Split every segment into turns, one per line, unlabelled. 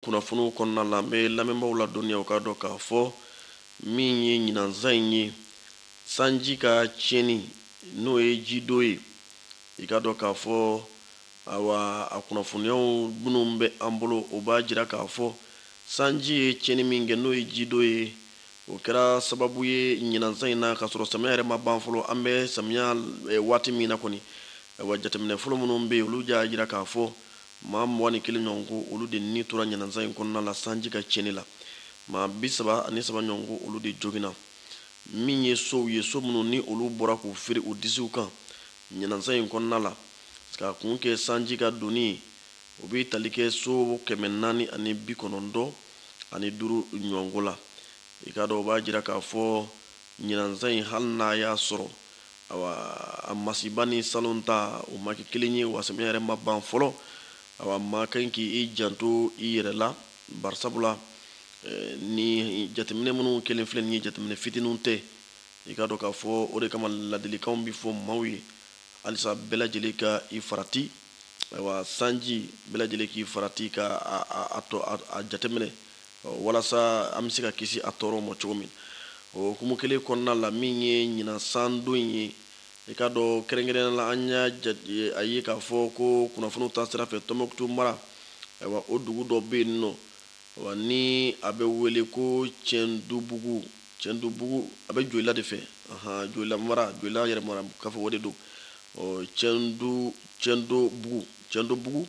kunnafoniw kɔnɔna la an bɛ lamɛnbaaw ladɔnniya u k'a dɔn k'a fɔ min ye ɲinan san in ye sanji ka tiɲɛni n'o ye jidon ye i k'a dɔn k'a fɔ awa a kunnafoniyaw minnu bɛ an bolo o b'a jira k'a fɔ sanji ye tiɲɛni min kɛ n'o ye jidon ye o kɛra sababu ye ɲinan san in na k'a sɔrɔ samiya yɛrɛ ma ban fɔlɔ an bɛ samiya eh, waati min na kɔni awa jateminɛ fɔlɔ minnu bɛ yen olu y'a jira k'a fɔ Maa mugan ni kelen ɲɔgɔn ko olu de ni tora ɲinan san in kɔnɔna la sanji ka tiɲɛni la. Maa bi saba ani saba ɲɔgɔn ko olu de joginna. Min ye sow ye, so minnu ni olu bɔra k'u firi u disiw kan ɲinan san in kɔnɔna la, k'a kun kɛ sanji ka donni ye, o bɛ tali kɛ so kɛmɛ naani ani bi kɔnɔntɔn ani duuru ɲɔgɔn ko la. I k'a dɔn, o b'a jira k'a fɔ ɲinan san in, hali n'a y'a sɔrɔ awa a masiba ni salon ta o ma kɛ kelen ye wa samiya yɛrɛ ma ban fɔlɔ awa maa ka kan k'i janto i yɛrɛ la barisabula eh, ni jateminɛ minnu kɛlen filɛ nin ye jateminɛ fitininw tɛ i k'a dɔn k'a fɔ o de kama ladilikanw bɛ fɔ maaw ye halisa bɛɛ lajɛlen ka i farati ayiwa sanji bɛɛ lajɛlen k'i farati ka a, a, a, to, a, a jateminɛ walasa an bɛ se ka kisi a tɔɔrɔ ma cogo min o hukumu kelen kɔnɔna la min ye ɲinan san don ye i k'a dɔn kɛrɛnkɛrɛnnenya la an y'a a ye k'a fɔ ko kunnafoniw ta sira fɛ tɔnbukutu mara ayiwa o dugu dɔ bɛ yen nɔ wa ni a bɛ wele ko cɛndubugu cɛndubugu a bɛ joyila de fɛ joyila mara joyila yɛrɛ mara k'a fɔ o de don cɛndu cɛndobugu cɛndobugu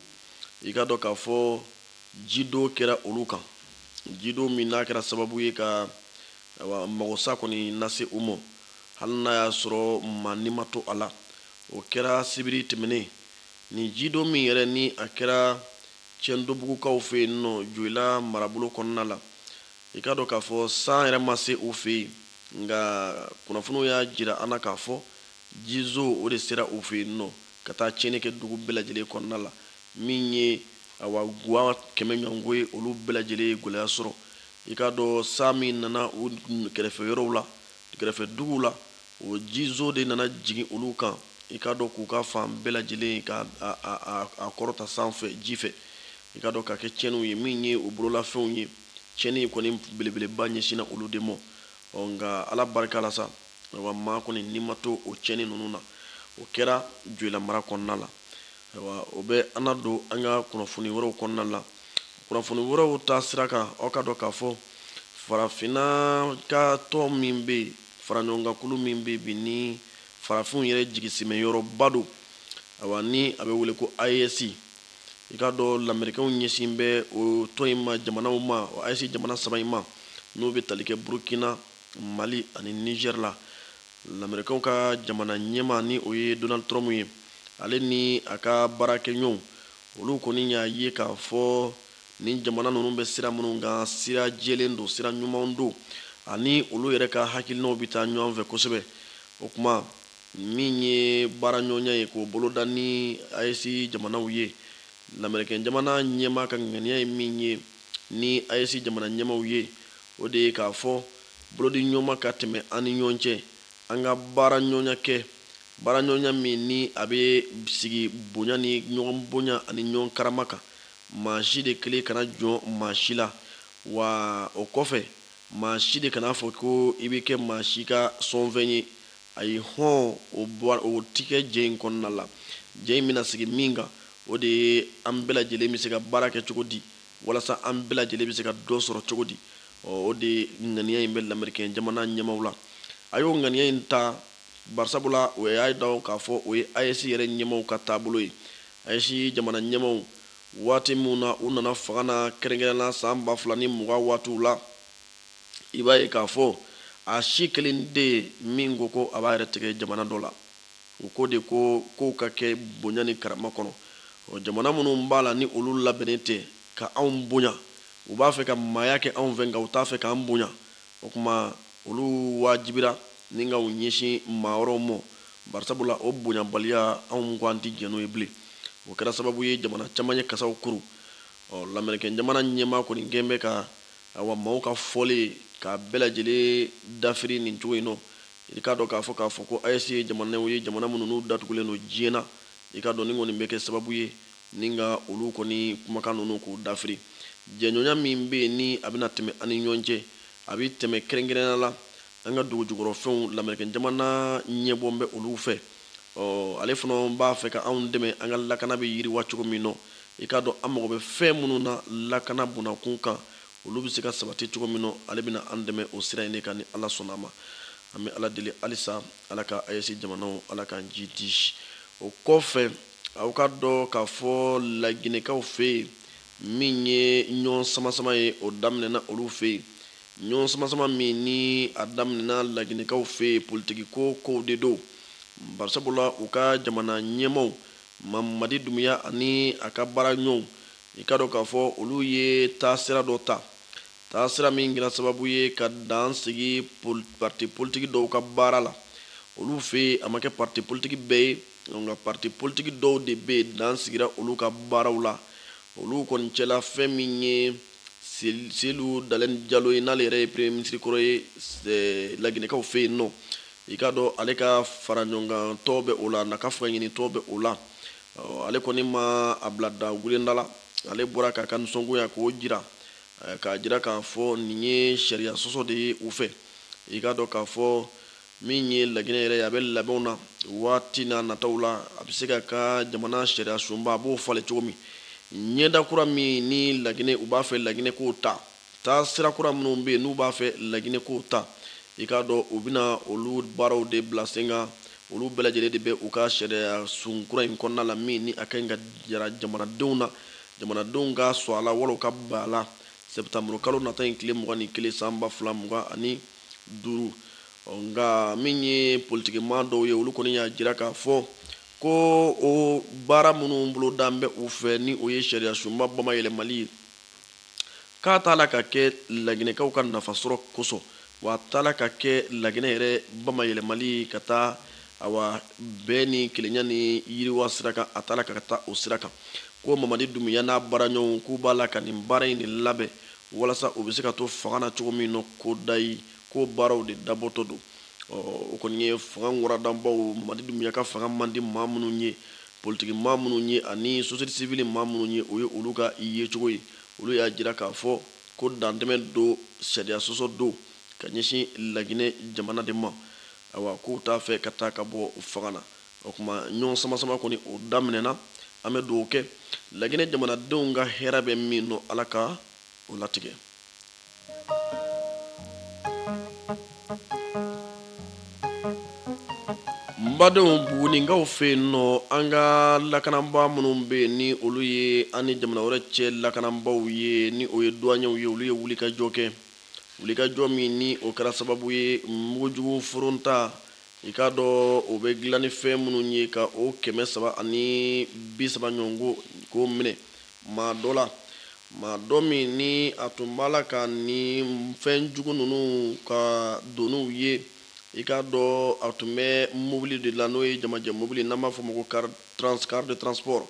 i k'a dɔn k'a fɔ jidon kɛra olu kan jidon min n'a kɛra sababu ye ka magosa kɔni lase u ma hali n'a y'a sɔrɔ maa ni ma to a la o kɛra sibiri tɛmɛnen nin jidon min yɛrɛ ni a kɛra cɛndobugukaw fɛ yen nɔ joyila marabolo kɔnɔna la i k'a dɔn k'a fɔ san yɛrɛ ma se u fɛ yen nka kunnafoniw y'a jira an na k'a fɔ jizo o de sera u fɛ yen nɔ ka taa tiɲɛni kɛ dugu bɛɛ lajɛlen kɔnɔna la min ye awa guwa kɛmɛ ɲɔgɔn ko ye olu bɛɛ lajɛlen ye gɛlɛya sɔrɔ i k'a dɔn san min nana u kɛrɛfɛ yɔrɔw la kɛrɛfɛ duguw la o jizo de nana jigin olu kan i k'a dɔn k'u ka fan bɛɛ lajɛlen ka a kɔrɔta sanfɛ ji fɛ i k'a dɔn k'a kɛ tiɲɛniw ye min ye u bololafɛnw ye tiɲɛni kɔni belebeleba ɲɛsinna olu de ma ɔ nka ala barika la sa maa kɔni ni ma to o tiɲɛni ninnu na o kɛra joyila mara kɔnɔna la Ayiwa o bɛ an nadon an ka kunnafoni wɛrɛw kɔnɔna la kunnafoni wɛrɛw taasira kan aw ka dɔn k'a fɔ farafinna ka tɔn min bɛ yen faraɲɔgɔnkankulu min bɛ bi ni farafinw yɛrɛ jigisimɛyɔrɔba don awa ni a bɛ wele ko ayesi i k'a dɔn lamerikɛnw ɲɛsin bɛ o tɔn in ma jamanaw ma ayesi jamana saba in ma n'o bɛ tali kɛ burukina mali ani nizɛri la lamerikɛnw ka jamana ɲɛmaa ni o ye donald trump ye ale ni a ka baarakɛɲɔgɔnw olu kɔni y'a ye k'a fɔ nin jamana ninnu bɛ sira minnu kan sira jɛlen don sira ɲumanw don ani olu yɛrɛ ka hakilinaw bɛ taa ɲɔgɔn fɛ kosɛbɛ o kuma min ye baaraɲɔgɔnya ye k'o boloda ni ayesi jamanaw ye lamerikɛn jamana ɲɛmaa ka ŋaniya ye min ye ni ayesi jamana ɲɛmaaw ye O de ye k'a fɔ bolodiɲɔgɔnma ka tɛmɛ an ni ɲɔgɔn cɛ an ka baaraɲɔgɔnya kɛ baaraɲɔgɔnya min ni a bɛ sigi bonya ni ɲɔgɔn bonya ani ɲɔgɔn karama kan maa si de kelen kana jɔn maa si la wa o kɔfɛ maa si de kana a fɔ ko i bɛ kɛ maa si ka sɔnfɛn ye ayi hɔn o tɛ kɛ jɛ in kɔnɔna la jɛ in bɛna sigi min kan o de ye an bɛɛ lajɛlen bɛ se ka baara kɛ cogo di walasa an bɛɛ lajɛlen bɛ se ka dɔ sɔrɔ cogo di o de ŋaniya in bɛ lamerikɛn jamana ɲɛmaaw la a y'o ŋaniya in ta barisabula o y'a dɔn k'a fɔ o ye ayesi yɛrɛ ɲɛmaaw ka taabolo ye ayesi jamana ɲɛmaaw waati minnu na u nana fanga na kɛrɛnkɛrɛnna san ba fila ni mugan waatiw la i b'a ye k'a fɔ a si kelen tɛ yen min ko ko a b'a yɛrɛ tigɛ jamana dɔ la U ko de ko kow ka kɛ bonya ni karama kɔnɔ. Ɔ jamana minnu b'a la ni olu labɛnnen tɛ ka anw bonya, u b'a fɛ ka maaya kɛ anw fɛ nka u t'a fɛ k'an bonya. O tuma olu waajibira ni ka u ɲɛsin maa wɛrɛw ma, barisabula o bonyabaliya anw ko an tɛ jɛn n'o ye bilen. O kɛra sababu ye jamana caman ye kasaw kuru. Ɔ lamɛrikɛnjamana ɲɛmaa kɔni kɛlen bɛ ka awa maaw ka fɔlen k'a bɛɛ lajɛlen dafiri nin cogo in nɔ i k'a dɔn k'a fɔ k'a fɔ ko AES ye jamanaw ye jamana minnu n'u datugulen don diɲɛ na, i k'a dɔn nin kɔni bɛ kɛ sababu ye ni ka olu kɔni kumakan ninnu k'u dafiri. Jɛɲɔgɔnya min bɛ yen ni a bɛna tɛmɛ an ni ɲɔgɔn cɛ, a bɛ tɛmɛ kɛrɛnkɛrɛnnenya la an ka dugujukɔrɔfɛnw, lamerikɛnjamana ɲɛbɔ bɛ olu fɛ, ɔ ale fana b'a fɛ ka anw dɛmɛ an ka lakana bɛ yiriwa cogo min nɔ, i k'a dɔn an mago bɛ fɛn minnu na lakana bunakun kan, olu bɛ se ka sabati cogo min na ale bɛna an dɛmɛ o sira in de kan ni ala sɔnna a ma an bɛ ala deli halisa ala ka AES jamanaw ala k'an jiidi o kɔfɛ aw k'a dɔn k'a fɔ laginɛkaw fɛ yen min ye ɲɔgɔn samasama ye o daminɛna olu fɛ yen ɲɔgɔn samasama min ni a daminɛna laginɛkaw fɛ yen politikiko kow de don barisabula u ka jamana ɲɛmaaw mamadi dumuya ani a ka baara ɲɔgɔnw i k'a dɔn k'a fɔ olu ye taasira dɔ ta taasira min kɛra sababu ye ka dan sigi parti politiki dɔw ka baara la olu fɛ yen a ma kɛ parti politiki bɛɛ ye nka parti politiki dɔw de bɛ yen dan sigira olu ka baaraw la olu kɔni cɛla fɛn min ye Selu Dalɛn Jalo ye n'ale yɛrɛ ye premier ministre kɔrɔ ye eh, laginɛkaw fɛ yen nɔ i k'a dɔn ale ka faraɲɔgɔnkantɔn bɛ o la n'a ka fangaɲinitɔn bɛ o la ale kɔni ma a bila da wulenda la ale bɔra k'a ka nisɔngoya k'o jira k'a jira k'a fɔ nin ye sariya sɔsɔ de ye u fɛ i k'a dɔn k'a fɔ min ye laginɛ yɛrɛ ye a bɛ labɛnw na waati n'a nataw la a bɛ se ka ka jamana sariya sunba a b'o falen cogo min ɲɛda kura min ni laginɛ u b'a fɛ laginɛ k'o ta taasira kura minnu bɛ yen n'u b'a fɛ laginɛ k'o ta i k'a dɔn u bɛna olu baaraw de bila sen kan olu bɛɛ lajɛlen de bɛ u ka sariya sun kura in kɔnɔna la min ni a ka ɲi ka jira jamanadenw na jamanadenw ka sɔn a la wala ka ban a la sɛtanburu kalo nata in tile mugan ni kelen san ba fila mugan ani duuru nka min ye politikiman dɔw ye olu kɔni y'a jira k'a fɔ ko o baara minnu bolodalen bɛ u fɛ ni o ye sariya sunba bama yɛlɛmali ye k'a t'a la ka kɛ laginɛkaw ka nafasɔrɔ kosɔn wa a t'a la ka kɛ laginɛ yɛrɛ bamayɛlɛmali ka taa awa bɛn ni kelenya ni yiriwa sira kan a t'a la ka taa o sira kan ko mamadi dumuya n'a baaraɲɔgɔnw k'u b'a la ka nin baara in de labɛn walasa u bɛ se ka to fanga na cogo min nɔ kudayi k'o baaraw de dabɔtɔ don o kɔni ye fanga waradanbaw mamadi dumuya ka fanga man di maa minnu ye politiki maa minnu ye ani société civile maa minnu ye o ye olu ka i yecogo ye olu y'a jira k'a fɔ ko dantɛmɛ don sariya sɔsɔ don ka ɲɛsin laginɛ jamana de ma awa k'u t'a fɛ ka taa ka bɔ fanga na o kuma ɲɔgɔn samasama kɔni o daminɛna an bɛ dugawu kɛ laginɛ jamanadenw ka hɛrɛ bɛ min nɔ ala ka o latigɛ badenw buguninkaw fɛ yen nɔ an ka lakanabaa minnu bɛ yen ni olu ye an ni jamana wɛrɛ cɛ lakanabaaw ye ni o ye douaniers ye olu ye wulikajɔ kɛ wulikajɔ min ni o kɛra sababu ye mugujugu foronta i k'a dɔn o bɛ dilan ni fɛn minnu ye ka o kɛmɛ saba ani bi saba ɲɔgɔn ko k'o minɛ maa dɔ la maa dɔ min ni a tun b'a la ka ni fɛn jugu ninnu ka doniw ye i k'a dɔn a tun bɛ mobili de la n'o ye jamajɛ mobili n'an b'a fɔ ma ko car de transport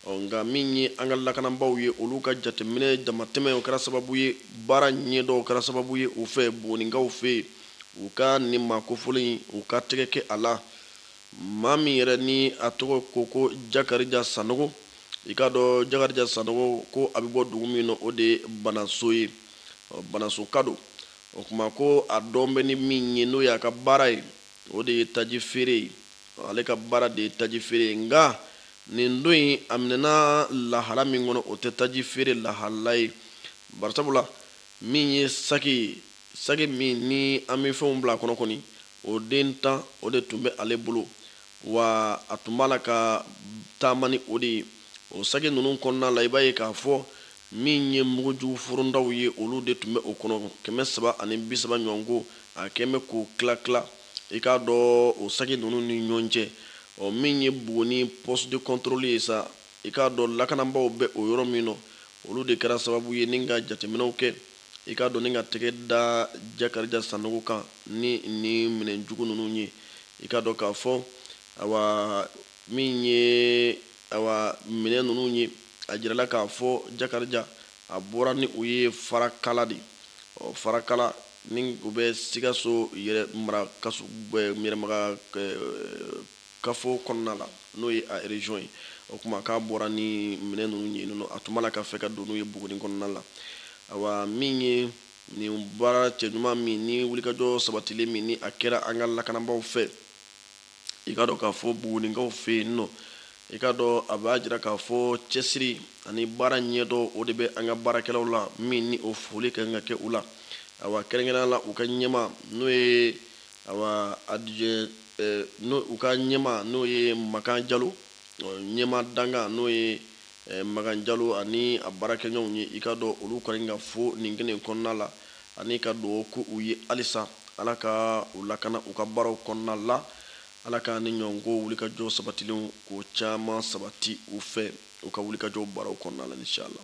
nka min ye an ka lakanabaaw ye olu ka jateminɛ damatɛmɛ o kɛra sababu ye baara ɲɛdɔn o kɛra sababu ye u fɛ bugunikaw fɛ yen U ka nin maa kofɔlen in, u ka tɛgɛ kɛ a la, maa min yɛrɛ ni a tɔgɔ ko ko Jakarija Sanogo. I k'a dɔn Jakarija Sanogo, ko a bɛ bɔ dugu min na, o de ye Banaso ye. Ɔ, Banasoka don. O kuma ko a dɔn bɛ ni min ye, n'o y'a ka baara ye, o de ye taji feere ye. Ɔ, ale ka baara de ye taji feere ye. Nka nin don in, a minɛna lahala min kɔnɔ, o tɛ taji feere lahala ye. Barisabula, min ye saki ye, saki min ni an bɛ fɛnw bila a kɔnɔ kɔni o den tan o de tun bɛ ale bolo wa a tun b'a la ka taama ni o de ye o saki ninnu kɔnɔna la i b'a ye k'a fɔ min ye mugujugu forontaw ye olu de tun bɛ o kɔnɔ kɛmɛ saba ani bi saba ɲɔgɔn ko a kɛn bɛ k'o tila tila i k'a dɔn o saki ninnu ni ɲɔgɔn cɛ ɔ min ye buguni poste de contrôle ye sa i k'a dɔn lakanabaaw bɛ o yɔrɔ min na olu de kɛra sababu ye ni ka jateminɛw kɛ i k'a dɔn ni ka tɛgɛ da jakarija sanogo kan ni ni minɛn jugu ninnu ye i k'a dɔn k'a fɔ awa min ye awa minɛn ninnu ye a jirala k'a fɔ jakarija a bɔra ni u ye farakala de ɔ farakala ni u bɛ sikaso yɛrɛ mara kaso yɛrɛ mara kafo kɔnɔna la n'o ye a région ye o kuma k'a bɔra ni minɛn ninnu ye yen nɔ a tun b'a la ka fɛ ka don n'u ye Buguni kɔnɔna la awa min ye nin baara cɛɲuman min ni wulikajɔ sabatilen min ni a kɛra an ka lakanabaaw fɛ i k'a dɔn k'a fɔ Bugunikaw fɛ yen nɔ i k'a dɔn a b'a jira k'a fɔ cɛsiri ani baara ɲɛdɔn o de bɛ an ka baarakɛlaw la min ni o foli ka kan ka kɛ u la awa kɛrɛnkɛrɛnnenya la u ka ɲɛmaa n'o ye awa adijɛ ni u ka ɲɛmaa n'o ye makan jalo ɲɛmaa dankan n'o ye makan jalo ani a baarakɛɲɔgɔnw ye i k'a dɔn olu kɔni ka fo nin kɛnɛ in kɔnɔna la ani ka dugawu k'u ye halisa ala ka u lakana u ka baaraw kɔnɔna la ala ka nin ɲɔgɔn ko wulikajɔ sabatilen k'o caman sabati u fɛ u ka wulikajɔ baaraw kɔnɔna la inshallah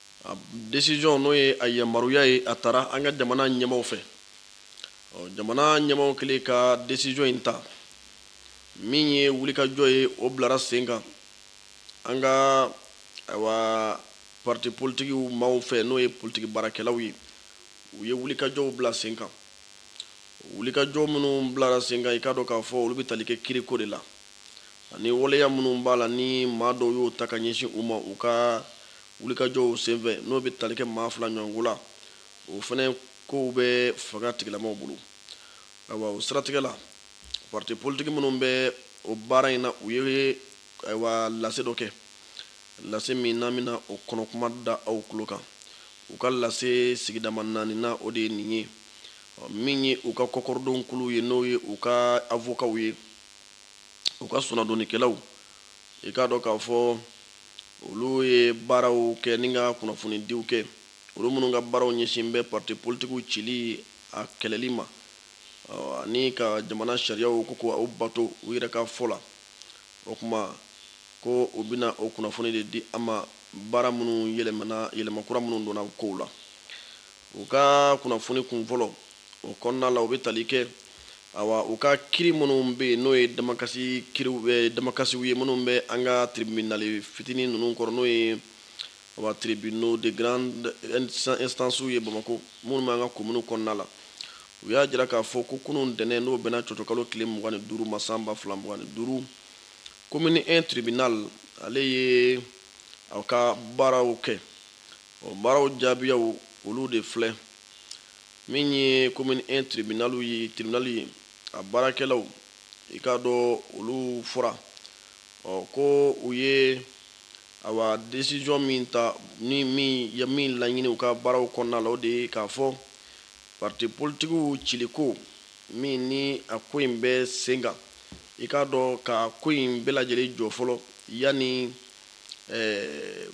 décision n'o ye a yamaruya ye a tara an ka jamana ɲɛmaw fɛ jamana ɲɛmaw kɛlen ka décision in ta min ye wulikajɔ ye o bilara sen kan an ka ayiwa parti politiki maaw fɛ n'o ye politiki baarakɛlaw ye u ye wulikajɔw bila sen kan wulikajɔ minnu bilara sen kan i k'a dɔn k'a fɔ olu bɛ tali kɛ kiriko de la ani waleya minnu b'a la ni maa dɔw y'o ta ka ɲɛsin u ma u ka wulikajɔw senfɛ n'o bɛ tali kɛ maa fila ɲɔgɔnko la o fana kow bɛ fanga tigilamaw bolo ayiwa o siratigɛ la parti politiki minnu bɛ o baara in na u ye ayiwa lase dɔ kɛ lase min n'an bɛna o kɔnɔkuma da aw tulo kan u ka lase sigidama naaninan o de ye nin ye min ye u ka kɔkɔrɔdonkulu ye n'o ye u ka avokaw ye u ka soronadonnikɛlaw i k'a dɔn k'a fɔ olu ye baaraw kɛ ni ka kunnafonidiw kɛ olu minnu ka baaraw ɲɛsin bɛ parti politikiw cili a kɛlɛli ma ani ka jamana sariyaw ko k'u bato u yɛrɛ ka fɔ la o kuma ko u bɛna o kunnafoni de di an ma baara minnu yɛlɛmana yɛlɛmakura minnu donna kow la u ka kunnafoni kun fɔlɔ o kɔnɔna la u bɛ tali kɛ awa u ka kiri minnu bɛ yen n'o ye damakasi kiriw bɛ eh, damakasiw ye minnu bɛ an ka tribunali fitinin ninnu kɔrɔ n'o ye awa tribunaux de grande instance ye bamako minnu bɛ an ka kominiw kɔnɔna la u y'a jira k'a fɔ ko kunun ntɛnɛn n'o bɛnna cɔcɔkalo tile mugan ni duuru ma san ba fila mugan ni duuru komini 1 tribunal ale ye a ka baaraw kɛ o baaraw jaabiyaw olu de filɛ min ye commune 1 tribunal ye tribunal ye a baarakɛlaw i k'a dɔn olu fɔra ɔ ko u ye awa décision min ta ni min ye min laɲini u ka baaraw kɔnɔna la o de ye k'a fɔ parti politikiw ciliko min ni a ko in bɛ sen kan i k'a dɔn ka ko in bɛɛ lajɛlen jɔ fɔlɔ yanni ɛɛ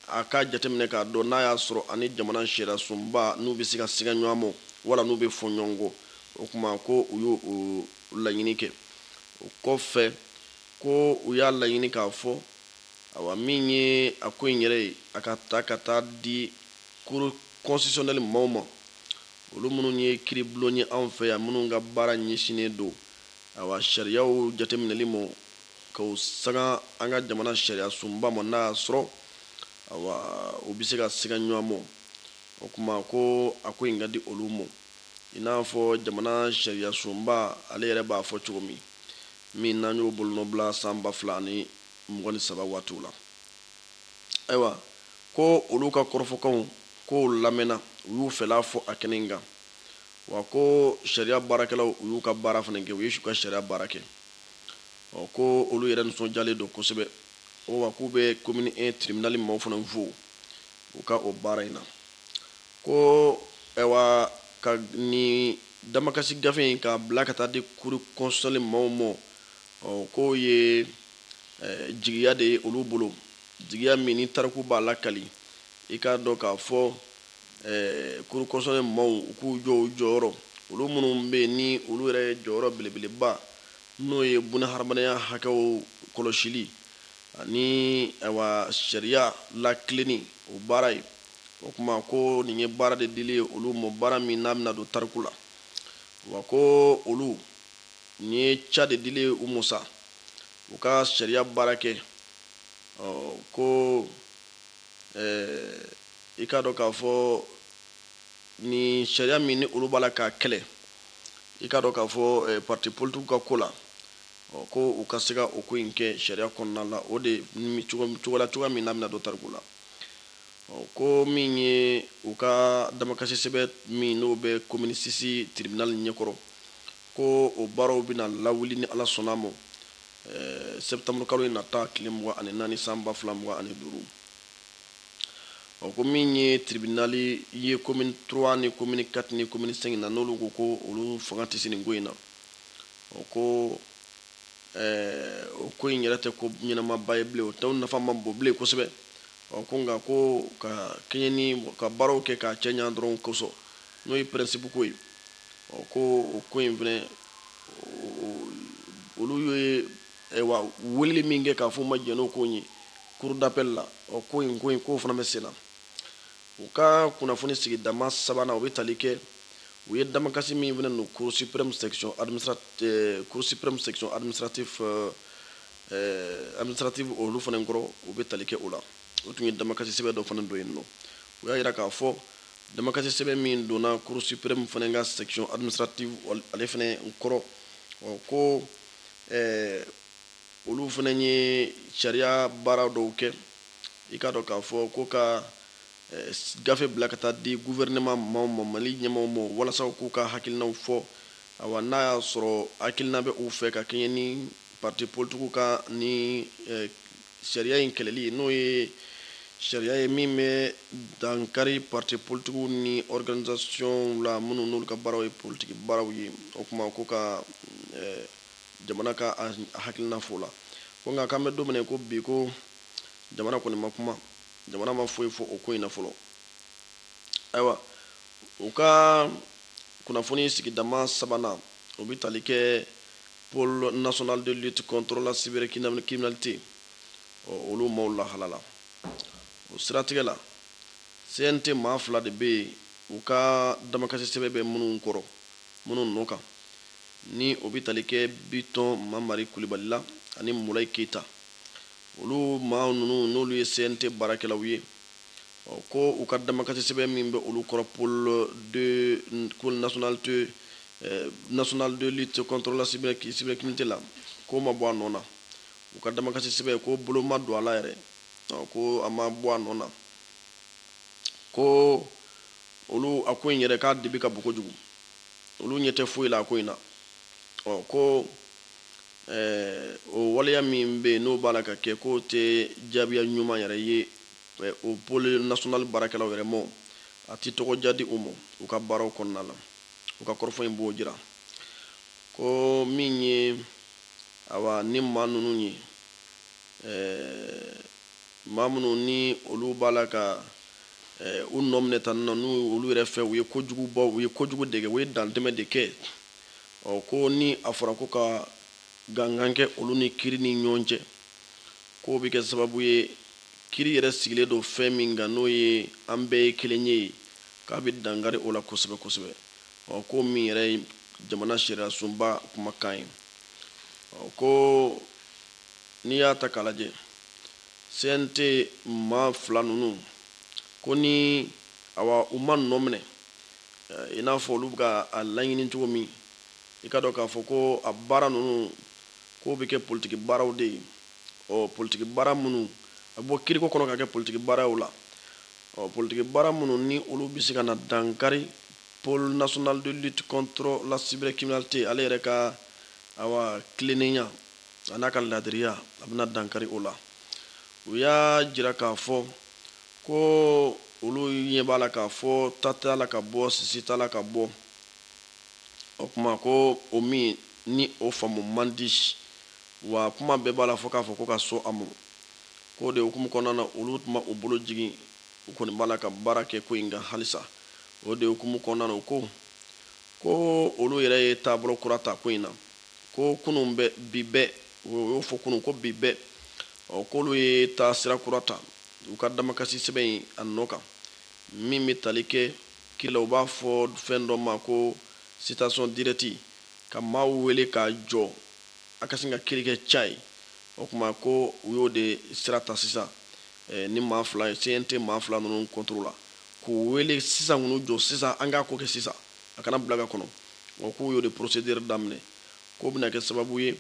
a k'a jateminɛ k'a dɔn n'a y'a sɔrɔ a ni jamana sariyasunba n'u bɛ se ka siga ɲɔgɔn ma wala n'u bɛ fɔ ɲɔgɔn kɔ o kuma ko u y'o laɲini kɛ o kɔfɛ ko u y'a laɲini k'a fɔ awa min ye a ko in yɛrɛ ye a ka ta ka taa di cour constitutionnelle maaw ma olu minnu ye kiribulon ye anw fɛ yan minnu ka baara ɲɛsinnen don awa sariyaw jateminɛli mɔ k'o sanga an ka jamana sariya sunba mɔ n'a y'a sɔrɔ awa u bɛ se ka siga ɲɔgɔn mɔ o kuma ko a ko in ka di olu mɔ i n'a fɔ jamana sariya sunba ale yɛrɛ b'a fɔ cogo min min n'an y'o bolonɔbila san ba fila ani mugan ni saba waatiw la ayiwa ko olu ka kɔrɔfɔkanw k'o lamɛnna u y'u fɛla fɔ a kɛnɛ in kan wa ko sariya baarakɛlaw u y'u ka baara fana kɛ u ye u ka sariya baara kɛ ɔ ko olu yɛrɛ nisɔndiyalen don kosɛbɛ o wa k'u bɛ komini 1 tribinali maaw fana fo u ka o baara in na ko ɛwa ka nin damakasi gafe in k'a bila ka taa di cour constitutionnelle maaw ma ɔ k'o ye jigiya de ye olu bolo jigiya min ni tariku b'a lakali i k'a dɔn k'a fɔ ɛɛ cour constitutionnelle maaw u k'u jɔ u jɔyɔrɔ olu minnu bɛ yen ni olu yɛrɛ jɔyɔrɔ belebeleba n'o ye bunahadamadenya hakɛw kɔlɔsili ani ɛwa sariya latilenni o baara ye o kuma ko nin ye baara de dili ye olu mɔ baara min n'a bɛna don tariku la wa ko olu nin ye ca de dili ye u mɔ sa u ka sariya baara kɛ ɔ ko i k'a dɔn k'a fɔ ni sariya min ni olu b'a la k'a kɛlɛ i k'a dɔn k'a fɔ pati politigiw ka ko la ko u ka se ka o ko in kɛ sariya kɔnɔna la o de cogola cogoya min n'a bɛna don tariku la ko min ye u ka damakasi sɛbɛn min n'o bɛ komini 6 tiribinali ɲɛkɔrɔ ko o baaraw bɛna lawuli ni ala sɔnna ma eh, septembre kalo in nata tile mugan ani naani san ba fila mugan ani duuru ɔ ko min ye tribinali ye commune 3 ni commune 4 ni commune 5 na n'olu ko ko olu fanga tɛ se nin ko in na ɔ ko eh, o ko in yɛrɛ tɛ ko ɲɛnamaba ye bilen o tɛ nafa man bon bilen kosɛbɛ ɔ ko nka ko ka kɛɲɛ ni ka baaraw kɛ k'a cɛ ɲa dɔrɔn kosɔn n'o ye pɛrɛnsipu ko ye Ɔ ko o ko in fɛnɛ olu ye weleli min kɛ k'a fɔ u ma jɛn n'o ko in ye cour d'appel la ɔ ko in ko in k'o fana bɛ sen na u ka kunnafoni sigidama sabanan o bɛ tali kɛ u ye damakasi min fana don cour suprême section administrative olu fana kɔrɔ o bɛ tali kɛ o la o tun ye damakasi sɛbɛn dɔ fana don yen nɔ u y'a jira k'a fɔ Damakasi sɛbɛn min donna Cour suprême fana ka section administrative ale fana kɔrɔ, ɔ ko ɛɛ olu fana ye sariya baara dɔw kɛ, i k'a dɔn k'a fɔ ko ka gafe bila ka taa di gouvernement maaw ma, Mali ɲɛmaaw ma, walasa u k'u ka hakilinaw fɔ, awa, n'a y'a sɔrɔ hakilina bɛ u fɛ ka kɛɲɛ ni partis politiques ka ni sariya in kɛlɛli n'o ye sariya ye min bɛ dankari parti politikiw ni organisation la minnu n'olu ka baaraw ye politiki baaraw ye o kuma ko ka eh, jamana ka a hakilina fɔ o la ko nka k'an bɛ don min na ko bi ko jamana kɔni ma kuma jamana ma foyi fɔ o ko in na fɔlɔ ayiwa u ka kunnafoni sigidama sabanan o bɛ tali kɛ Pôle national de lutte contre la cybercriminalité ɔ olu maaw lahala la o siratigɛ la CNT maa fila de bɛ yen u ka damakasi sɛbɛn bɛ minnu kɔrɔ minnu nɔ kan ni o bɛ tali kɛ Bitɔn Mamari Kulibali la ani Mulayi Keyita olu maa ninnu n'olu ye CNT baarakɛlaw ye Ɔ ko u ka damakasisɛbɛn min bɛ olu kɔrɔ pôle de ko nationalité eh, national de lutte contre la cybercriminalité la k'o ma bɔ a nɔ na u ka damakasisɛbɛn ko bolo ma don a la yɛrɛ ɔ ko a ma bɔ a nɔ na ko olu a ko in yɛrɛ k'a dibi ka bon kojugu olu ɲɛ tɛ foyi la a ko in na ɔ ko eh, o waleya min bɛ yen n'o b'a la ka kɛ k'o tɛ jaabiya ɲuman yɛrɛ ye O pôle national baarakɛlaw yɛrɛ mɔ, a tɛ tɔgɔ diya di u mɔ u ka baaraw kɔnɔna la. U ka kɔrɔfɔ in b'o jira ko min ye awa ni maa ninnu ye, ɛɛ maa minnu ni olu b'a la ka ɛɛ u nɔ minɛ tan nɔ, n'u olu yɛrɛ fɛ u ye kojugubaw, u ye kojugu de kɛ, u ye dantɛmɛ de kɛ, ɔ ko ni a fɔra ko ka gangan kɛ olu ni kiri ni ɲɔgɔn cɛ, k'o bɛ kɛ sababu ye kiri yɛrɛ sigilen don fɛn min kan n'o ye an bɛɛ ye kelen ye k'a bɛ dankari o la kosɛbɛ kosɛbɛ ɔ ko min yɛrɛ ye jamana sariyasunba kumakan ye ɔ ko n'i y'a ta k'a lajɛ CNT maa fila ninnu ko ni awa u ma nɔ minɛ eh, i n'a fɔ olu bɛ ka a laɲini cogo min i k'a dɔn k'a fɔ ko a baara ninnu k'o bɛ kɛ politiki baaraw de ye, ɔ politiki baara minnu a bɛ bɔ kiiriko kɔnɔ ka kɛ politiki baara ye o la, ɔ politiki baara minnu ni olu bɛ se ka na dankari Pôle national de lutte contre la cybercriminalité ale yɛrɛ ka awa tilennenya a n'a ka laadiriya a bɛna dankari o la. U y'a jira k'a fɔ ko olu ɲɛ b'a la k'a fɔ ta t'a la ka bɔ sisi t'a la ka bɔ o tuma ko o min ni o faamu man di wa kuma bɛɛ b'a la fo k'a fɔ ko ka sɔn a ma k'o de hukumu kɔnɔna na olu tun ma u bolo jigin u kɔni b'a la ka baara kɛ ko in kan halisa o de hukumu kɔnɔna na u ko ko olu yɛrɛ ye taabolo kura ta ko in na ko kunun bɛ bi bɛɛ o y'o fɔ kunun ko bi bɛɛ ɔ k'olu ye taasira kura ta u ka damakasi sɛbɛn in a nɔ kan Min bɛ tali kɛ kiri la, u b'a fɔ fɛn dɔ ma ko citation directe ka maaw wele k'a jɔ a ka sin ka kiri kɛ cayi. O tuma ko u y'o de sira ta sisan ni maa fila ye, CNT maa fila ninnu contre la, k'u wele sisan, k'u jɔ sisan, an k'a ko kɛ sisan, a kana bila ka kɔnɔ. Ɔ, k'u y'o de procédure daminɛ, k'o bɛna kɛ sababu ye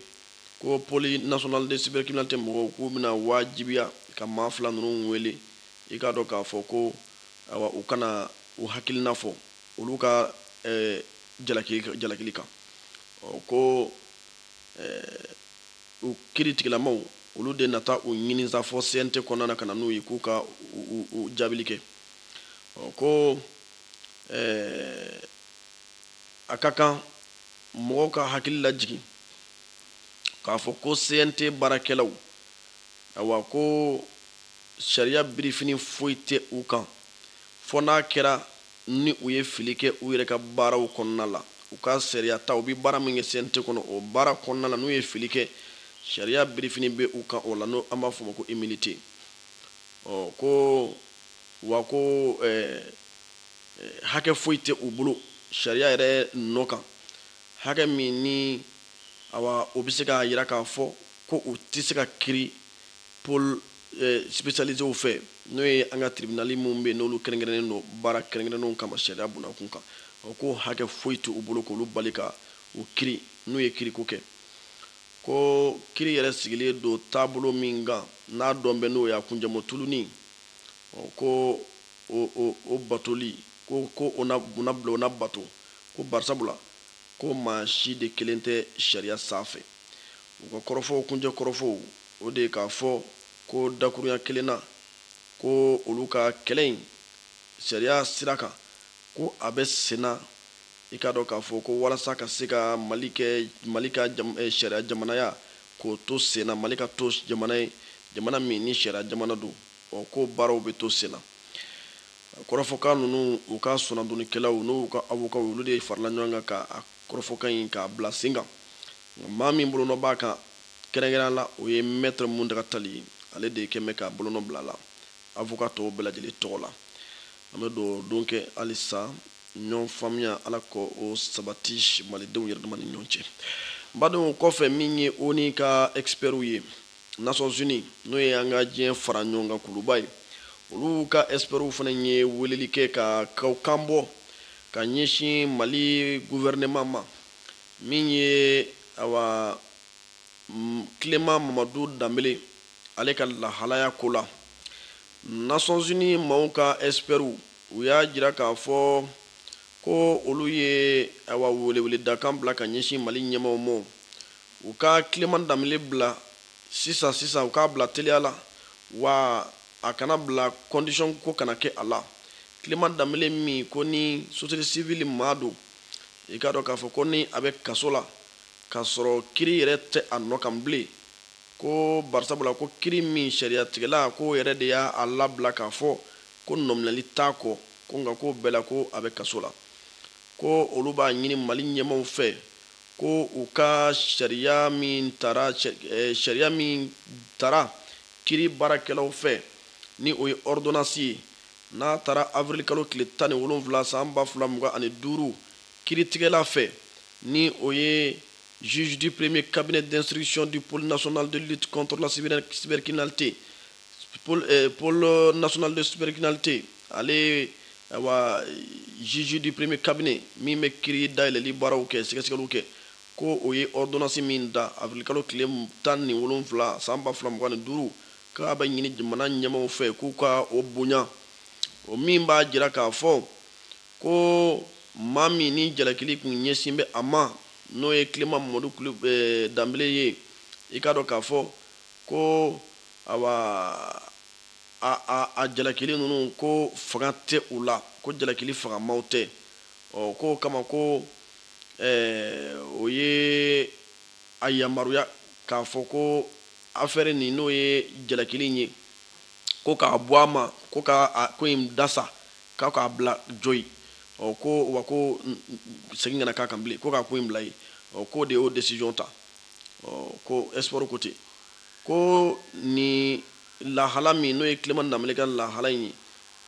ko pôle national de cybercriminalité mɔgɔw k'u bɛna wajibiya ka maa fila ninnu wele i k'a dɔn k'a fɔ ko awa u ka na u hakilina fɔ olu ka jalakili kan ko u kiri tigilamaaw olu de na taa u ɲini sa fo CNT kɔnɔna na ka na n'u ye k'u ka u jaabili kɛ ko a ka kan mɔgɔw ka hakili lajigin k'a fɔ ko CNT baarakɛlaw awa ko sariya birifini foyi tɛ u kan fo n'a kɛra ni u ye fili kɛ u yɛrɛ ka baaraw kɔnɔna la. U ka sariya ta, u bɛ baara min kɛ CNT kɔnɔ, o baara kɔnɔna la, n'u ye fili kɛ, sariya birifini bɛ u kan o la, n'o an b'a fɔ o ma ko immunité. Ɔ ko wa ko hakɛ foyi tɛ u bolo sariya yɛrɛ nɔ kan, hakɛ min ni awa o bɛ se k'a jira k'a fɔ ko u tɛ se ka kiri pôle spécialiséw fɛ n'o ye an ka tiribinali minnu bɛ n'olu kɛrɛnkɛrɛnnen don baara kɛrɛnkɛrɛnnenw kama sariya bunakun kan o ko hakɛ foyi tɛ u bolo k'olu bali ka u kiri n'u ye kiriko kɛ ko kiri yɛrɛ sigilen don taabolo min kan n'a dɔn bɛ n'o y'a kunjɛmɔ tuluni ko o batoli ko ko o bila o na bato ko bari sabula ko maa si de kelen tɛ sariya sanfɛ U ka kɔrɔfɔw, kuncɛ kɔrɔfɔw, o de ye k'a fɔ ko dakurunya kelen na, ko olu ka kɛlɛ in sariya sira kan, ko a bɛ senna, i k'a dɔn k'a fɔ ko walasa ka se ka Mali kɛ Mali ka sariya jamanaya, k'o to senna, Mali ka to jamana ye, jamana min ni sariya jamana don, ɔ k'o baaraw bɛ to senna. Kɔrɔfɔkan ninnu, u ka soronadonnikɛlaw n'o y'u ka awokaw ye, olu de farala ɲɔgɔn kan ka a kɔrɔfɔkan in k'a bila sen kan maa min bolonɔ b'a kan kɛrɛnkɛrɛnya la o ye mɛtɛrɛ Muntaga Tali ye ale de kɛlen bɛ k'a bolonɔ bila a la avoka tɔw bɛɛ lajɛlen tɔgɔ la an bɛ dugawudon kɛ halisa ɲɔgɔn faamuya Ala k'o sabati malidenw yɛrɛdama ni ɲɔgɔn cɛ badenw o kɔfɛ min ye ONU ka ɛkisipɛriw ye Nations Unies n'o ye an ka diɲɛ fara ɲɔgɔn kan kuluba ye, olu ka ɛkisipɛriw fana ye weleli kɛ ka kan bɔ ka ɲɛsin Mali guwɛrineman ma, min ye awa Clement Mamadu Danbele ale ka lahalaya ko la. Nations Unies maaw ka ɛkisipɛriw u y'a jira k'a fɔ ko olu ye awa weleweledakan bila ka ɲɛsin Mali ɲɛmaaw ma U ka Clement Danbele bila sisan sisan, u k'a bila teliya la, wa a kana bila condition ko kana kɛ a la. Clement Danbele min ko ni sosiyete sivili maa don, i k'a dɔn k'a fɔ ko ni a bɛ kaso la, k'a sɔrɔ kiri yɛrɛ tɛ a nɔ kan bilen, ko barisabula ko kiri min sariyatigɛla k'o yɛrɛ de y'a labila k'a fɔ ko nɔminɛli t'a kɔ, ko nka k'o bɛɛ la ko a bɛ kaso la. Ko olu b'a ɲini Mali ɲɛmaaw fɛ, ko u ka sariya min tara eh, sariya min tara kiri baarakɛlaw fɛ ni o ye ordonnance ye n'a tara avril kalo tile tan ni wolonwula san ba fila mugan ani duuru kiritigɛla fɛ ni o ye juge du premier cabinet d'instruction du pôle national de lutte contre la cybercriminalité eh, pôle national de cybercriminalité ale awa juge du premier cabinet min bɛ kiri dayɛlɛli baaraw kɛ sɛgɛsɛgɛliw kɛ ko o ye ordonnance min ta avril-kalo tile tan ni wolonwula san ba fila mugan ni duuru k'a bɛ ɲini jamana ɲɛmaaw fɛ k'u ka o bonya o min b'a jira k'a fɔ ko maa min ni jalakili kun ɲɛsin bɛ a ma n'o ye Clement Mamadu eh, Danbele ye i k'a dɔn k'a fɔ ko awa a jalakili ninnu ko fanga tɛ u la ko jalakili fangamaw tɛ ɔ k'o kama ko o ye a yamaruya k'a fɔ ko affaire nin n'o ye jalakili ye ko k'a bɔ a ma ko ka ko in dasa k'a k'a bila jo ye ɔ ko wa ko segin kana k'a kan bilen ko k'a ko in bila yen ɔ k'o de y'o décision ta ɔ ko experts ko ten ko ni lahala min n'o ye Clement Danbele ka lahala in ye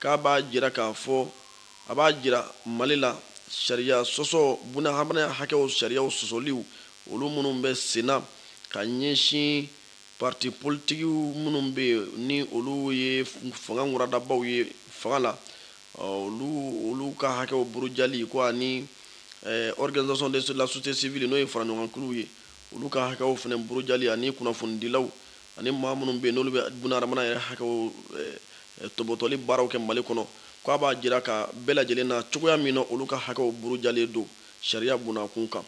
k'a b'a jira k'a fɔ a b'a jira mali la sariya sɔsɔ bunahadamadenya hakɛw sariya sɔsɔliw olu minnu bɛ senna ka ɲɛsin pariti politikiw minnu bɛ yen ni olu ye fanga wɛrɛdabaw ye fanga la olu olu ka hakɛw burujali ko ani organisation de la société civile n'o ye faraɲɔgɔnkuluw ye olu ka hakɛw fana burujali ani kunnafonidilaw ani maa minnu bɛ yen n'olu bɛ bunahadamadenya yɛrɛ hakɛw eh, eh, tɔbɔtɔli baaraw kɛ mali kɔnɔ k'a b'a jira k'a bɛɛ lajɛlen na cogoya min na olu ka hakɛw burujalen don sariya bunakun kan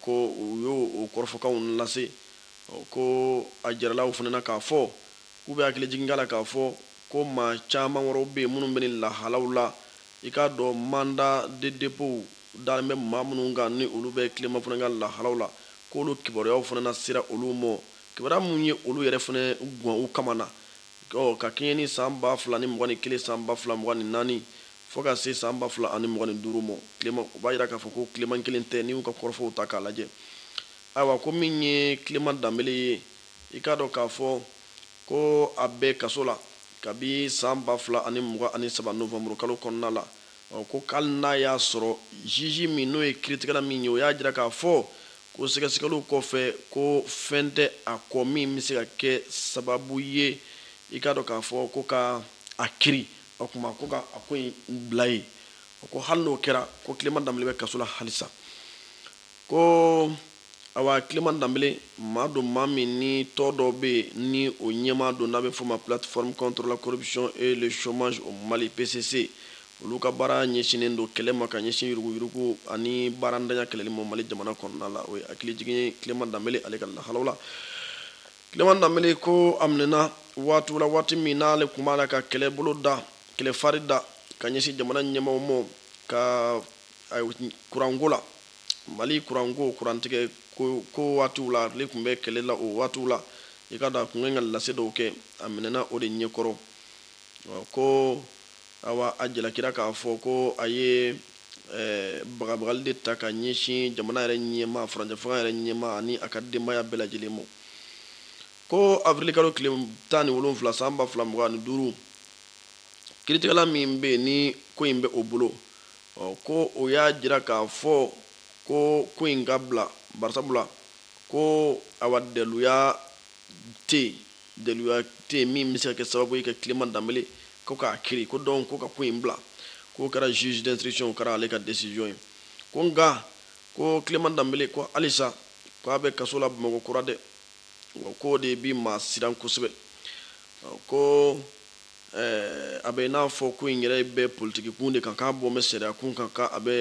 ko u y'o kɔrɔfɔkanw lase ko a jarala u fana na k'a fɔ k'u bɛ hakili jigin la k'a fɔ ko maa caman wɛrɛw bɛ yen minnu bɛ nin lahalaw la i k'a dɔn mandat de dépôt dalen bɛ maa minnu kan ni olu bɛ Clement fana ka lahalaw la k'olu kibaruyaw fana na sera olu ma kibaruya minnu ye olu yɛrɛ fana gan u kamana na ka kɛɲɛ ni san ba fila ni mugan ni kelen san ba fila mugan ni naani fo ka se san ba fila ani mugan ni duuru ma Clement u b'a jira k'a fɔ ko Clement kelen tɛ n'i y'u ka kɔrɔfɔw ta k'a lajɛ ayiwa ko min ye Clement Danbele ye i k'a dɔn k'a fɔ ko a bɛ kaso la kabi san ba fila ani mugan ani saba nowanburukalo kɔnɔna la Ɔ ko k'ali n'a y'a sɔrɔ juge min n'o ye kiritigɛla min ye o y'a jira k'a fɔ ko sɛgɛsɛgɛliw kɔfɛ ko fɛn tɛ a kɔ min bɛ se ka kɛ sababu ye i k'a dɔn k'a fɔ ko ka a kiri o tuma ko ka a ko in bila yen ɔ ko hali n'o kɛra ko Clement Danbele bɛ kaso la halisa ko Awa Clement Danbele maa don maa min ni tɔn dɔ bɛ yen ni o ɲɛmaa don n'a bɛ fɔ o ma plateforme contre la corruption et le chômage au Mali, PCC, olu ka baara ɲɛsinnen don kɛlɛ ma ka ɲɛsin yuruguyurugu ani baarantanya kɛlɛli ma Mali jamana kɔnɔna la. O ye hakilijigin ye Clement Danbele ale ka lahalaw la. Clement Danbele ko a minɛna waatiw la waati min n'ale tun b'a la ka kɛlɛbolo da kɛlɛfari da ka ɲɛsin jamana ɲɛmaaw ma ka kuranko la. mali kuranko kurantigɛko waatiw la ale tun bɛ kɛlɛ la o waatiw la i ka dɔn a tun ka lase dɔw kɛ a minɛna o de ɲɛkɔrɔ ko awa a jalakira k'a fɔ ko a ye bagabagali de ta ka ɲɛsin jamana yɛrɛ ɲɛmaa furancɛfanga yɛrɛ ɲɛmaa ani a ka denbaya bɛɛ lajɛlen ma ko awirilikalo tile tan ni wolonwula san ba fila mugan ni duuru kiritigɛla min bɛ yen ni ko in bɛ o bolo Ɔ ko o y'a jira k'a fɔ ko ko in ka bila barisabula ko awa daluya tɛ yen daluya tɛ yen min bɛ se ka kɛ sababu ye ka Clement Dembele ko k'a kiri ko donc ko ka ko in bila k'o kɛra juge d'instruction o kɛra ale ka decision ye ko nka ko Clement Dembele ko halisa ko a bɛ kaso la Bamakɔ kura dɛ awa k'o de bi maa siran kosɛbɛ ko Ɛɛ a bɛ i n'a fɔ ko in yɛrɛ bɛ politikikun de kan k'a bɔ bɛ sariyakun kan k' a bɛ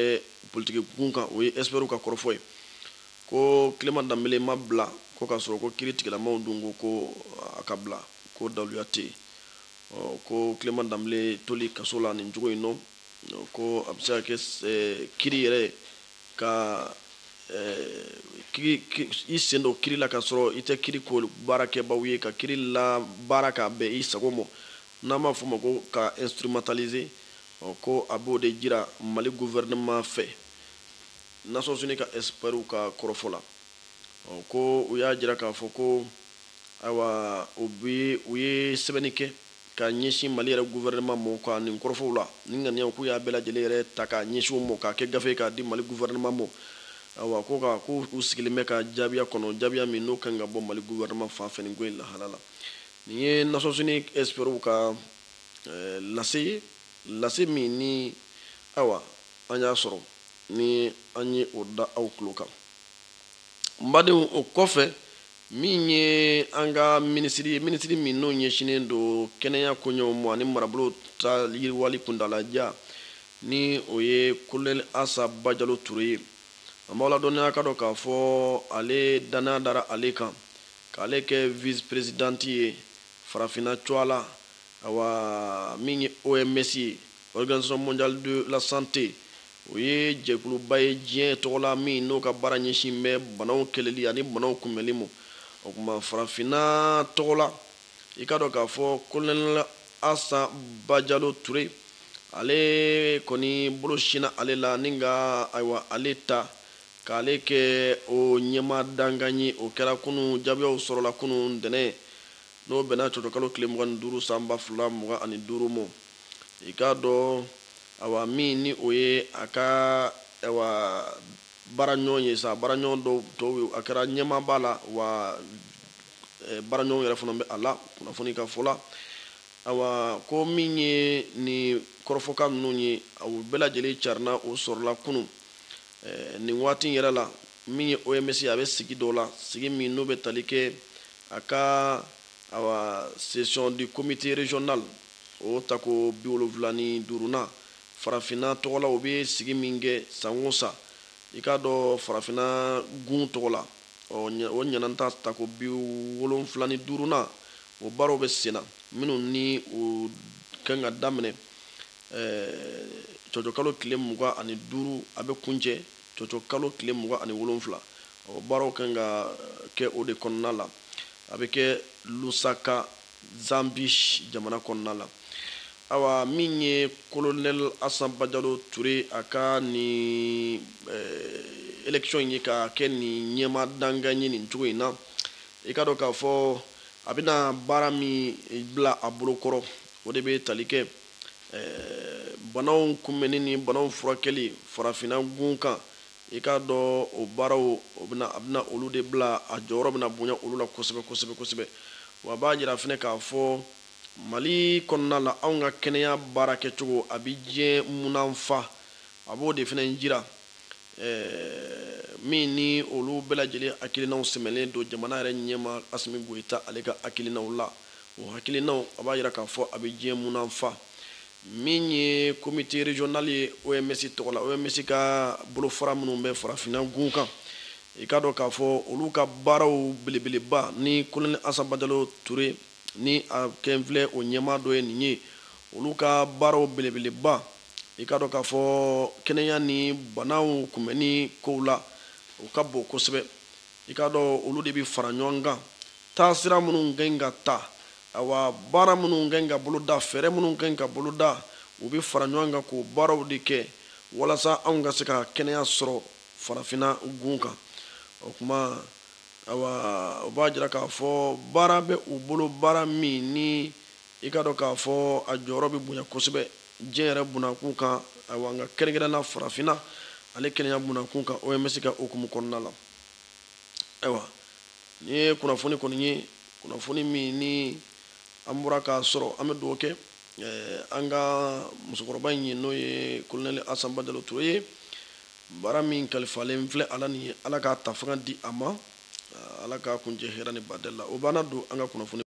politikikun kan o ye experts ka kɔrɔfɔ ye ko Clement Dembele ma bila ko k'a sɔrɔ ko kiritigɛlamaw dun ko ko a ka bila ko daluya tɛ yen ɔ ko Clement Dembele toli kaso la nin cogo in nɔ ko a bɛ se ka kɛ kiri yɛrɛ ka i sen don kiri la ka sɔrɔ i tɛ kiriko baarakɛbaw ye ka kiri labaara k'a bɛn i sago ma n'an b'a fɔ o ma ko ka instrumentaliser ko a b'o de jira Mali gouvernement fɛ Nations Unies ka experts ka kɔrɔfɔ la ko u y'a jira k'a fɔ ko ayiwa u ye sɛbɛnni kɛ ka ɲɛsin Mali yɛrɛ gouvernement mɔ ka nin kɔrɔfɔw la, nin ŋaniyaw k'u y'a bɛɛ lajɛlen yɛrɛ ta k'a ɲɛsin o mɔ, k'a kɛ gafe ye k'a di Mali gouvernement mɔ, awa, ko ka ko u sigilen bɛ ka jaabiya kɔnɔ, jaabiya min n'o ka ɲi ka bɔ Mali gouvernement fan fɛ nin ko in lahala la. Nin ye Nations Unies experts ka lase ye, lase min ni, awa, an y'a sɔrɔ ni an ye o da aw tulo kan. N badenw, o kɔfɛ, min ye an ka minisiri ye minisiri min n'o ɲɛsinnen don kɛnɛya koɲɛw ma ani marabolo ta yiriwali kuntaalajan ni o ye kolonɛli asa bajalo ture ye an b'aw ladɔnniya ka dɔn k'a fɔ ale dannaya dara ale kan k'ale kɛ vice presidente ye farafinna tɔgɔla awa min ye oms ye Organisation mondiale de la santé o ye jɛkuluba ye diɲɛ tɔgɔla min n'o ka baara ɲɛsin bɛ banaw kɛlɛli ani banaw kunbɛnli ma o tuma farafinna tɔgɔla i ka dɔn k'a fɔ kolonɛli asa bajalo ture ale kɔni bolo sinna ale la ni ka ayiwa ale ta k'ale kɛ o ɲɛmaa dankan ye o kɛra kunu jaabiyaw sɔrɔla kunu ntɛnɛn n'o bɛnna cɔcɔkalo tile mugan ni duuru san ba fila mugan ani duuru ma i k'a dɔn awa min ni o ye a ka awa baaraɲɔgɔn ye sa baaraɲɔgɔn dɔw tɔw ye a kɛra ɲɛmaa b'a la wa baaraɲɔgɔn yɛrɛ fana bɛ a la kunnafoni ka fɔ la awa ko min ye nin kɔrɔfɔkan ninnu ye a bɛɛ lajɛlen carina o sɔrɔla kunun nin waati yɛrɛ la min ye oms a bɛ sigi dɔ la sigi min n'o bɛ tali kɛ a ka awa session du comité régional O tako bi wolonwula ni duurunan, Farafinna tɔgɔ la o bɛ sigi min kɛ san o san, i k'a dɔn Farafinna gun tɔgɔ la, ɔ o ɲinan ta tako bi wolonwula ni duurunan, o baaraw bɛ sen na, minnu ni o kan ka daminɛ cɔcɔkalo tile mugan ani duuru, a bɛ kuncɛ cɔcɔkalo tile mugan ani wolonwula. O baaraw ka kan ka kɛ o de kɔnɔna la, a bɛ kɛ Lusaka zambi jamana kɔnɔna la awa min ye kolonɛl asan bajalo ture a ka nin eh, élection in ye ka kɛ nin ɲɛmaa dankan ye nin cogo in na i k'a dɔn k'a fɔ a bɛna baara min bila a bolo kɔrɔ o de bɛ tali kɛ eh, banaw kunbɛnni ni banaw furakɛli farafinna gun kan I k'a dɔn o baaraw a bɛna olu de bila a jɔyɔrɔ bɛna bonya olu la kosɛbɛ kosɛbɛ kosɛbɛ wa b'a jira fana k'a fɔ mali kɔnɔna la anw ka kɛnɛya baara kɛcogo a bɛ diɲɛ munanfa a b'o de fana jira min ni olu bɛɛ lajɛlen hakilinaw sɛmɛlen don jamana yɛrɛ ɲɛmaa asimi goyita ale ka hakilinaw la o hakilinaw a b'a jira k'a fɔ a bɛ diɲɛ munanfa Min ye comité régional ye OMS tɔgɔ la OMS ka bolofara minnu bɛ farafinna gun kan i k'a dɔn k'a fɔ olu ka baaraw belebeleba ni kolonɛli asan bajalo ture ni a kɛlen filɛ o ɲɛmaa dɔ ye nin ye olu ka baaraw belebeleba i k'a dɔn k'a fɔ kɛnɛya ni banaw kunbɛnni kow la u ka bon kosɛbɛ i k'a dɔn olu de bɛ fara ɲɔgɔn kan taasira minnu ka ɲi ka ta awa baara minnu ka ɲi ka boloda fɛɛrɛ minnu ka ɲi ka boloda u bɛ fara ɲɔgɔn kan k'o baaraw de kɛ walasa anw ka se ka kɛnɛya sɔrɔ farafinna gun kan o tuma awa o b'a jira k'a fɔ baara bɛ u bolo baara min ni i k'a dɔn k'a fɔ a jɔyɔrɔ bɛ bonya kosɛbɛ diɲɛ yɛrɛ bunakun kan awa nka kɛrɛnkɛrɛnnenya la farafinna ale kɛnɛya bunakun kan oms ka hukumu kɔnɔna la ayiwa nin ye kunnafoni kɔni ye kunnafoni min ni an bɔra k'a sɔrɔ an bɛ dugawu kɛ eh, an ka musokɔrɔba in ye n'o ye kolonɛli asan bajalo ture ye baara min kalifalen filɛ a la nin ye ala k'a ta fanga di a ma eh, ala k'a kuncɛ hɛrɛ ni badɛli la o bannen don an ka kunnafoni